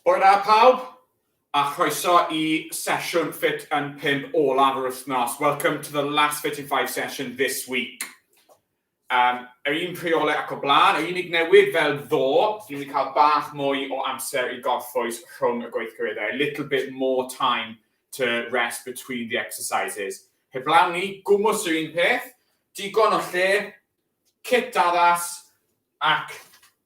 Hwyl da pawb, a chroeso i sesiwn Fit yn 5 olaf yr wythnos. Welcome to the last Fit in 5 session this week. Um, yr un rheolau ac o blaen, yr unig newid fel ddo, sy'n mynd i cael bach mwy o amser i gorffwys rhwng y gweithgareddau, a little bit more time to rest between the exercises. Heblaw ni, gwmwys yr un peth, digon o lle, cit addas, Ac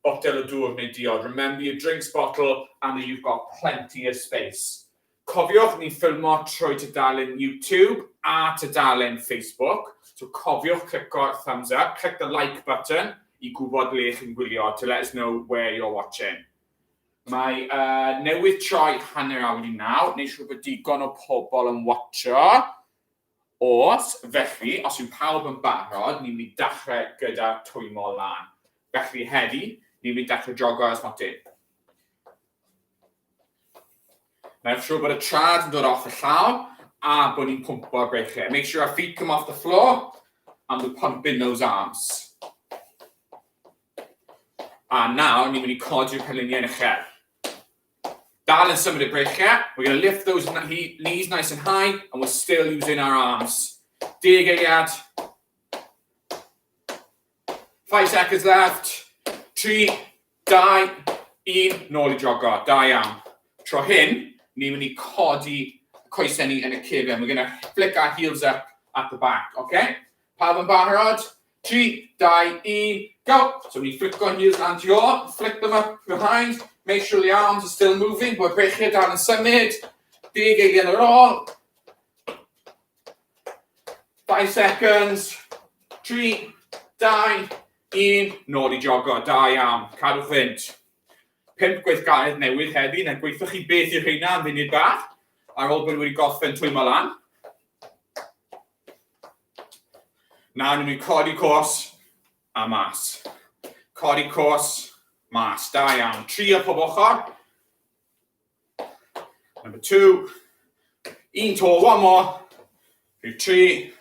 botel o dŵr neu diod, remember your drinks bottle and that you've got plenty of space. Cofiwch, ni'n ffilmo trwy tudalen YouTube a tudalen Facebook, so cofiwch clico thumbs up, click the like button i gwybod ble chi'n gwylio, to let us know where you're watching. Mae uh, newydd troi hanner awr i naw, neu siw bod digon o pobl yn watcho. Oes, felly, os yw pawb yn barod, ni'n mynd i dachrau gyda twymo lan. Felly, heddi, ni'n mynd i dachrau jogo ar y smotyn. Make sure bod y trad yn dod off y llaw a bod ni'n pwmpo'r breichiau. Make sure our feet come off the floor and we're pumping those arms. A nawr, ni'n mynd i codi'r penluniau yn uchel. Dal yn symud y breichiau. We're going to lift those knees nice and high and we're still using our arms. Deg eiliad. Five seconds left. Tri, dau, un, nôl i jogo. Da iawn. Tro hyn, ni'n mynd i codi coesau ni yn y cefn. We're going to flick our heels up at the back, okay? Pawb yn barod? 3, 2, 1, go! So ni'n fflico heels lan ti ôl, flick them up behind, make sure the arms are still moving, bod breichiau dal yn symud, deg eiliad ar ôl. 5 seconds, 3, 2, 1, nôl i jogo, da iawn, cadw fynd. 5 gweithgaredd newydd heddi, na gweithio chi beth i'r rheina am funud bach, ar ôl bod wedi gorffen twymo lan. Na, ni'n mynd codi cos a mas. Codi cos, mas. Da iawn. Tri o pob ochr. Number two. Un to, one more. Rhyw tri.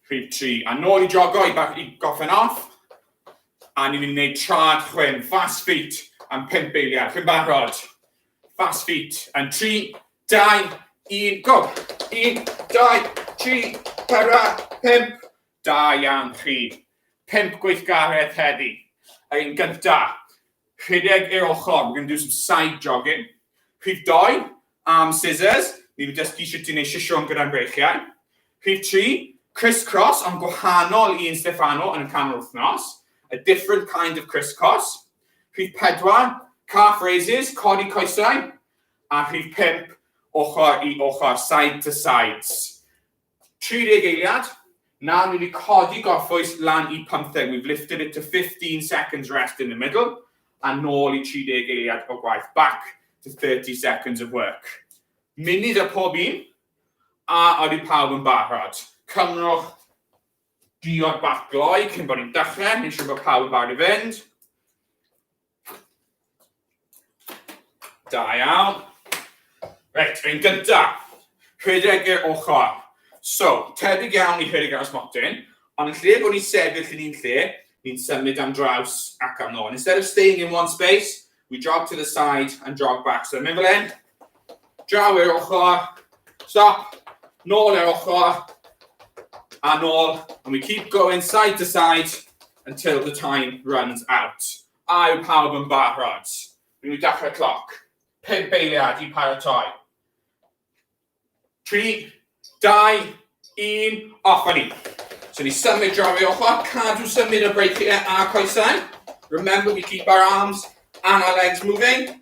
Rhyw tri. A nôl i jogo i, i goffen off. A ni'n mynd i wneud trad chwyn, fast feet, am pimp eiliad. Chi'n barod? Fast feet. And tri, Dau, un, go! Un, dau, tri, para, pump. Da iawn chi. Pump gweithgaredd heddi. Yn gynta, rhedeg i'r ochr, we're going to do some side jogging. Rhif doi, arm scissors, ni wedi dysgu sut i wneud sisiwn gyda'n breichiau. Rhif tri, criss-cross, ond gwahanol i un Stefano yn y canol wythnos. A different kind of criss-cross. Rhif pedwar, calf raises, codi coesau. a rhif pump, ochr i ochr, side to sides. 30 eiliad, nawr ni wedi codi gorffwys lan i 15, we've lifted it to 15 seconds rest in the middle, a nôl i 30 eiliad o gwaith, back to 30 seconds of work. Munud a pob un, a oeddi pawb yn barod. Cymrwch Diod bach gloi cyn bod ni'n dechrau, ni'n siŵr bod pawb yn barod i fynd. Da iawn. Reit, yn gynta, rhedeg i'r ochr. So, tebyg iawn i rhedeg ar ysmotyn, ond yn lle bod ni'n sefyll yn un lle, ni'n symud am draws ac am nôl. Instead of staying in one space, We jog to the side and jog back. So mynd fel hyn, draw i'r ochr, stop, nôl i'r ochr, a nôl, and we keep going side to side until the time runs out. A yw pawb yn barod? Rwy'n nhw dechrau cloc. Pum beiliad i paratoi. 3, 2, 1, off a ni. So ni symud draw i ochr, cadw symud y breichiau a coesau. Remember we keep our arms and our legs moving.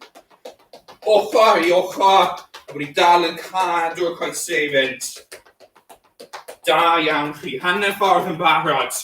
Ochr i ochr, a bod ni dal yn cadw y coesau i fynd. Da iawn chi, hanner ffordd yn barod.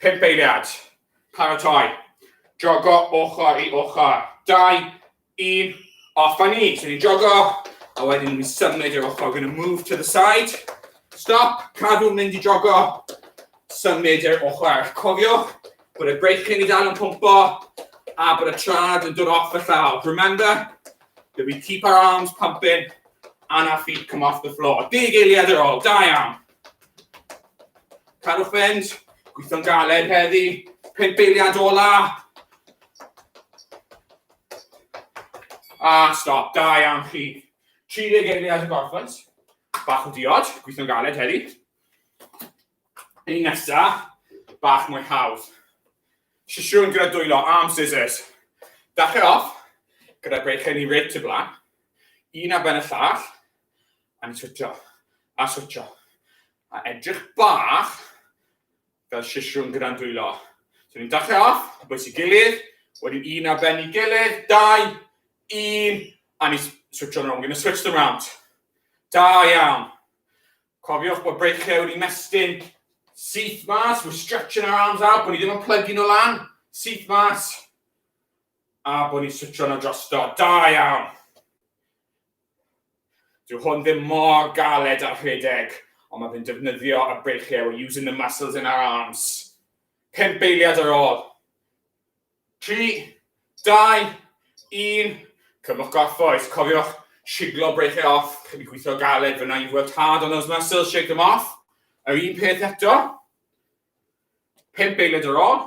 Pump eiliad. Paratoi. Jogo ochr i ochr. Dau, un, off a ni. So ni'n jogo, a wedyn ni'n symud i'r ochr. We're going to move to the side. Stop, cadw mynd i jogo. Symud i'r ochr. Cofiwch bod y breichyn i dal yn pwmpo a bod y trad yn dod off y llaw. Remember that we keep our arms pumping and our feet come off the floor. Deg eiliad ar ôl, da iawn. Cadwch fynd. Gweithio'n galed heddi. Pump eiliad ola. A stop. Da iawn chi. 30 eiliad y gorffwnt. Bach o diod. Gweithio'n galed heddi. Un nesa. Bach mwy hawdd. Sisiwn gyda dwylo. Arm scissors. Dachrau off gyda gweithio ni reit y blaen. Un ar ben y llall. A switsio, a switsio. A edrych bach fel sisiwn gyda'n dwylo. So ni'n dachrau off, a bwys i gilydd, wedyn un ar ben i gilydd, dau, un, a ni switch on, we're going to switch them round. Da iawn. Cofiwch bod breichiau wedi mestyn syth mas, we're stretching our arms out, bod ni ddim yn plygu nhw lan, syth mas, a bod ni'n switch on o drosto. Da iawn. Dyw hwn ddim mor galed â rhedeg, ond mae fe'n defnyddio y breichiau, we're using the muscles in our arms. Pump eiliad ar ôl. Tri, dau, un, cymwch gorffwys. Cofiwch siglo breichiau off, chi wedi gweithio galed, fyna you've worked hard on those muscles, shake them off. Yr un peth eto. Pump eiliad ar ôl,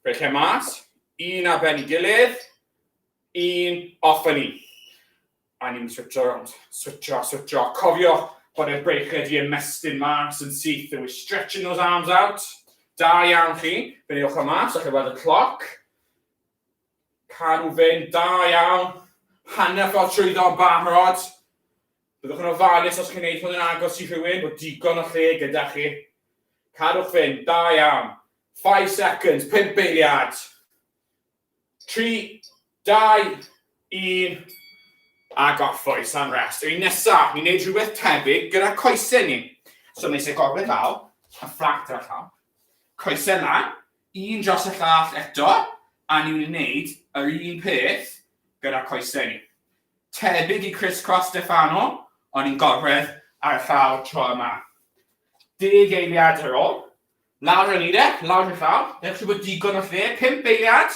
breichiau mas, un ar ben i gilydd, un off yn un. A ni'n switsio, switsio, switsio. Cofio bod e'r breichiau di ymestyn mas yn syth, and we're stretching those arms out. Da iawn chi, fe ni ochr mas, a chi weld y cloc. Cadw fynd, da iawn. Hanner ffordd trwyddo yn barod. Byddwch yn ofalus os chi'n neud hwn yn agos i rhywun, bod digon o lle gyda chi. Cadwch fynd, da iawn. 5 seconds, 5 beiliad. 3, 2, 1, a gorffwys am rest. Yr un nesaf, ni'n neud rhywbeth tebyg gyda coesau ni. So nes i gorwedd lawr, a fflat ar y llawr. Coesau lan, un dros y llall eto, a ni'n mynd i wneud yr un peth gyda coesau ni. Tebyg i Chris Cross Stefano, ond ni'n gorwedd ar y llawr tro yma. Deg eiliad ar ôl, Lawr yn eire, lawr yn llaw. Newch chi bod digon o lle, pum beiriad.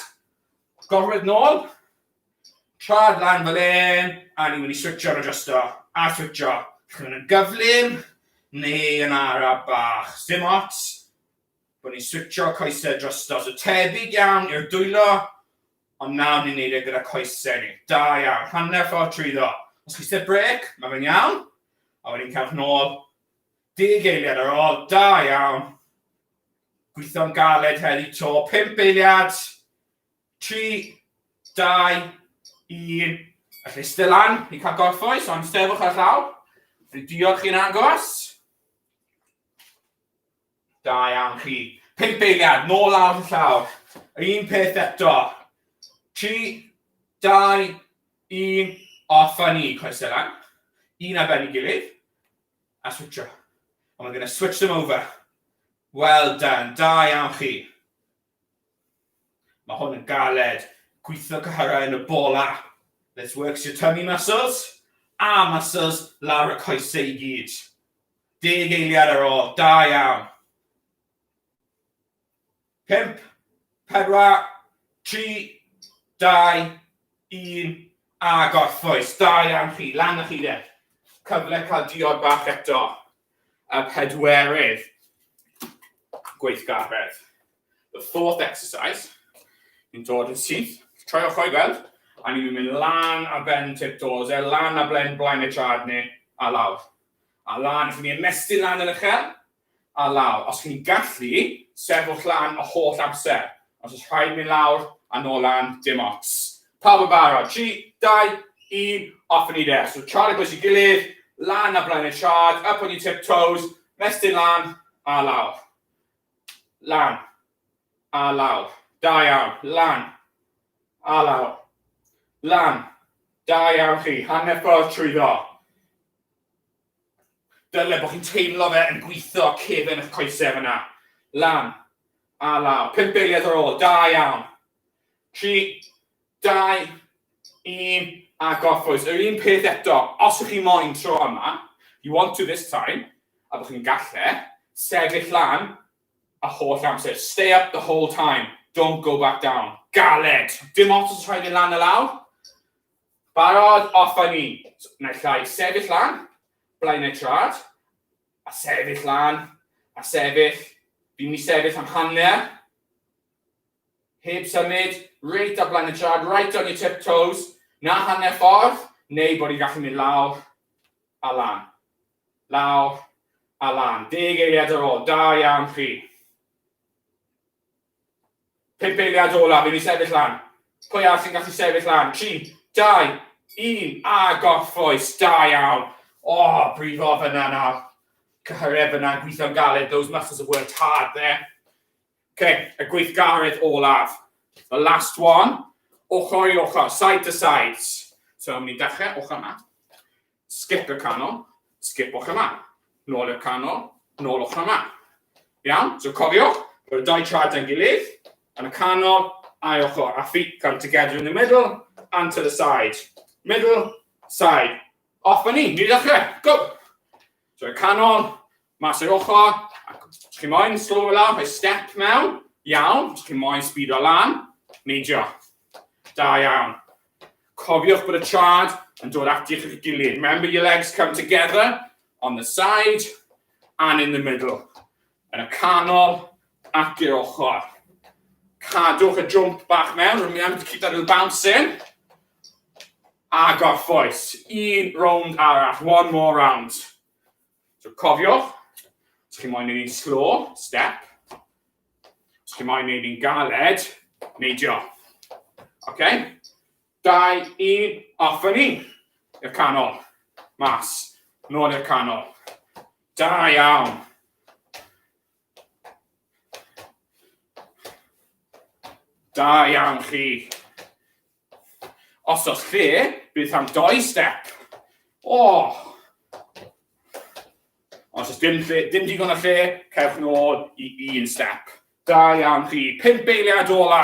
Gorwedd nôl. Trad lan fel un, a ni'n mynd i switcho ar y justo. A switcho. Chi'n mynd yn gyflym, neu yn ara bach. Dim ots. Bod ni'n switcho coesau drosto. So tebyg iawn i'r dwylo, ond nawr ni'n neud e gyda coesau ni. Da iawn, hanner ffordd trwyddo. Os chi sy'n brec, mae fe'n iawn. A wedyn cewch nôl, Deg eiliad ar ôl, da iawn! Gweithio'n galed heddi to, pump eiliad! Tri, dau, un, a lle sti lan i cael gorffwys, ond sefwch ar llaw, fi diolch chi'n agos. Da iawn chi. Pump eiliad, nôl lawr y llaw. Un peth eto. Tri, dau, un, off a ni, coesau lan. Un ar ben i gilydd. A switsio. And we're going to switch them over. Well done. Da iawn chi. Mae hwn yn galed. Gweithio cyhyrau yn y bola. This works your tummy muscles. A muscles lawr y coesau i gyd. Deg eiliad ar ôl. Da iawn. 5, 4, 3, 2, 1, a gorffwys. Da iawn chi, lan â chi de. Cyfle cael diod bach eto. Y pedwerydd gweithgaredd. The fourth exercise. Yn dod yn syth. Troi ochr i weld. A ni'n mynd lan a ben tiptoes, e, lan a blen blaen y trad ni, a lawr. A lan, os ni'n ymestyn lan yn uchel, a lawr, os chi'n gallu, sefwch lan y holl amser, os oes rhaid mynd lawr a nôl lan, dim ots. Pawb yn barod, 3, 2, 1, off yn ni de. So Charlie pwys i gilydd, lan a blaen y charge, up on your tiptoes, mestyn lan a lawr. Lan a lawr, da iawn, lan a lawr. Lan, da iawn chi, hanner ffordd trwyddo. Dyle bod chi'n teimlo fe yn gwitho cefn eich coesau fyna. Lan. A law. Pump eiliad ar ôl. Da iawn. Tri, dau, un, a gorffwys. Yr un peth eto. Os ych chi moyn tro yma, you want to this time, a bod chi'n galle, sefyll lan y holl amser. Stay up the whole time. Don't go back down. Galed. Dim ots os rhaid mynd lan a lawr. Barod, off â ni! Naill ai sefyll lan, blaenau trad, a sefyll lan, a sefyll, fi'n mynd i sefyll am hanner, heb symud, reit ar blaen y trad, right on your tiptoes, na hanner ffordd, neu bod i'n gallu mynd lawr a lan. Lawr a lan. Deg eiliad ar ôl, da iawn chi. Pump eiliad olaf i ni sefyll lan. Pwy arall sy'n gallu sefyll lan? Tri, dau, un, a gorffwys, da iawn. O, oh, brifo fyna nawr. Cyhyredd fyna yn gweithio'n galed, those muscles have worked hard there. OK, y gweithgaredd olaf. The last one, ochr i ochr, side to sides. So, ni'n dechrau ochr yma. Skip y canol, sgipwch y man. Nôl i'r canol, nôlwch y man. Iawn? So cofiwch bod y dau traed dan gilydd, yn y canol, ail ochr, a feet come together in the middle, and to the side. Middle, side. Off a ni, ni ddechrau. Go! So y canol, Mas o'r ochr, ac os chi moyn slofo lawr, rhoi step mewn, iawn, os chi moyn sbido lan, neidio. Da iawn. Cofiwch bod y trad yn dod ati chi'ch gilydd. Remember your legs come together on the side and in the middle. Yn y canol ac i'r ochr. Cadwch y jwmp bach mewn, remember to keep that little bounce in. A gorffwys. Un rownd arall, one more round. So cofiwch, os chi'n moyn ei wneud slo, step. Os chi'n moyn ei wneud galed, neidio. OK? Dau, un, off yn un. I'r canol. Mas. Nôl i'r canol. Da iawn. Da iawn chi. Os oes lle, bydd am doi step. O! Oh. Os oes dim, lle, dim digon o lle, cewch nôl i un step. Da iawn chi. Pimp eiliad ola.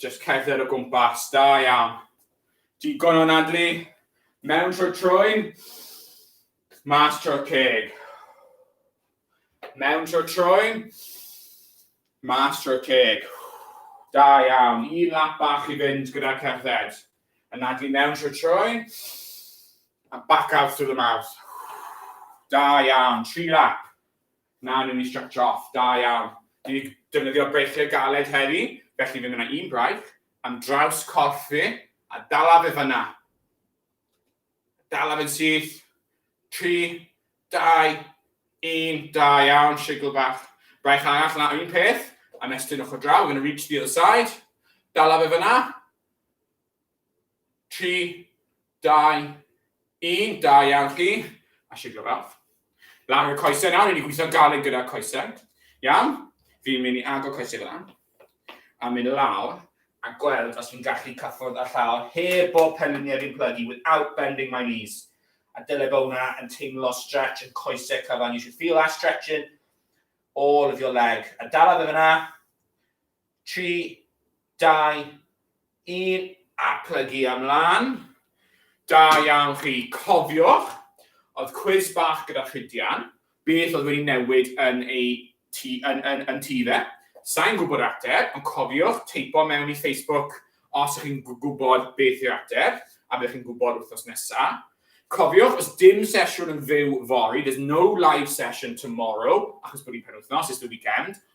Jyst cerdded o gwmpas, da iawn. Digon o nadlu, mewn trwy troen, mas trwy'r ceg. Mewn trwy'r troen, mas trwy'r ceg. Da iawn, un lap bach i fynd gyda cerdded. A nadlu mewn trwy'r troen, a back out through the mouth. Da iawn, tri lap. Na, newn ni stretsio off. Da iawn. Dwi 'di defnyddio breichiau galed heddi, felly fe wna un braich am draws corff fi, a dala fe fan'na. Dala fe'n syth. Tri, dau, un, da iawn, sigl bach. Braich arall yna, un peth, a mestyn ochr draw, we're going to reach the other side. Dala fe fan'na. Tri, dau, un, da iawn chi, a siglo bawb. Lan y coesau nawr, ni'n gweithio'n galed gyda'r coesau. Iawn, fi'n mynd i agor coesau fel yna, a mynd lawr, a gweld os fi'n gallu cyffwrdd â llaw heb bob penliniau fi'n plygu without bending my knees. A dyle bod hwnna yn teimlo stretch yn coesau cyfan. You should feel that stretching all of your leg. A dala fe fyna. tri, dau, un a plygu am lan. Da iawn chi. Cofiwch, oedd cwis bach gyda Rhydian, beth oedd wedi newid yn ei ti, yn, yn, yn ti fe. Sa'n gwybod ateb, ond cofiwch teipo mewn i Facebook os ych chi'n gwybod beth yw'r ateb, a byddwch chi'n gwybod wythnos nesaf. Cofiwch, os dim sesiwn yn fyw fory, there's no live session tomorrow, achos bod hi'n penwythnos, it's the weekend,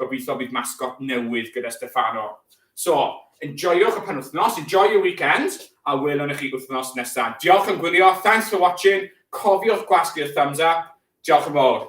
Gobeithio bydd masgot newydd gyda Stefano. So, enjoyowch y penwythnos, enjoy your weekend, a welwn i chi wythnos nesa. Diolch am gwylio, thanks for watching, cofiwch gwasgu'r thumbs up, diolch yn fawr.